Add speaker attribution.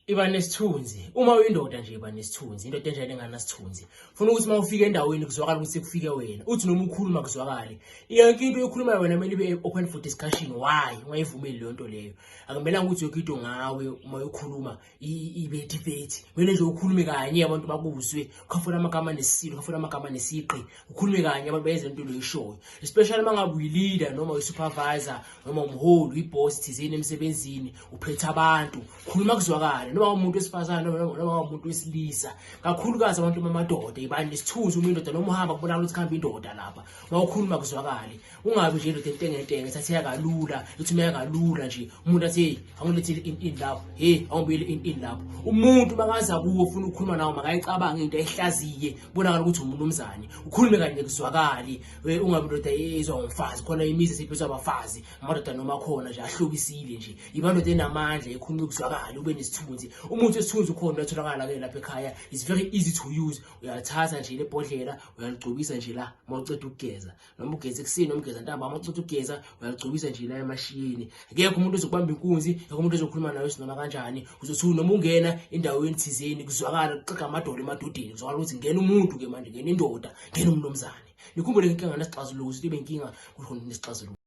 Speaker 1: iba nesithunzi uma uyindoda nje iba nesithunzi indoda enjani enganasithunzi funa ukuthi uma ufika endaweni kuzwakala ukuthi kufike wena uthi noma ukhuluma kuzwakale yonke into oyikhulumayo wena kumele ibe open for discussion why ungayivumeli leyo nto leyo akumelanga ukuthi yonke into ngawe uma ukhuluma ibe debate kumele nje ukhulume kanye abantu bakuzwe ukhafuna amagama nesilo ukhafuna amagama nesiqi ukhulume kanye abantu bayenza into loyishoyo especially uma ngabe uyi-leader noma uyi-supervisor noma umholi uyi-boss thizeni emsebenzini uphethe abantu khuluma kuzwakale noma umuntu wesifazane noma umuntu wesilisa kakhulukazi abantu bamadoda ibani nesithunzi uma indoda noma uhamba kubonakala ukuthi kuhamba indoda lapha uma ukhuluma kuzwakale ungabi nje indoda entengentenge thatheka kalula ithumeka kalula nje umuntu athi hey angilethile in lapho hey awubuyele in lapho umuntu makaza kuwo ufuna ukukhuluma nawo makayicabanga into ehlaziye kubonakala ukuthi umunumzane ukhulume kanye kuzwakali ungabi indoda ezwa ngomfazi khona imizi siphethwa abafazi amadoda noma khona nje ahlobisile nje iba indoda enamandla ekhuluma kuzwakali ube nesithunzi umuntu esithunzi ukhona uyatholakala ke lapha ekhaya is very easy to use uyathatha nje lebhodlela uyaligcobisa nje la mawuceda ukugeza noma ugeza ekuseni noma ugeza ntaba uma ucotha ugeza uyalugcobisa nje la emashiyeni akekho umuntu ozokubamba inkunzi akekho umuntu ozokhuluma nawe sinoma kanjani uzothi noma ungena endaweni thizeni kuzwakala kuxega amadolo emadodeni kuzwakala ukuthi ngena umuntu ke manje ngena indoda ngena umnumzane nikhumbule ngenkinga nesixazuluko ukuthi ibe inkinga kukhona nesixazuluko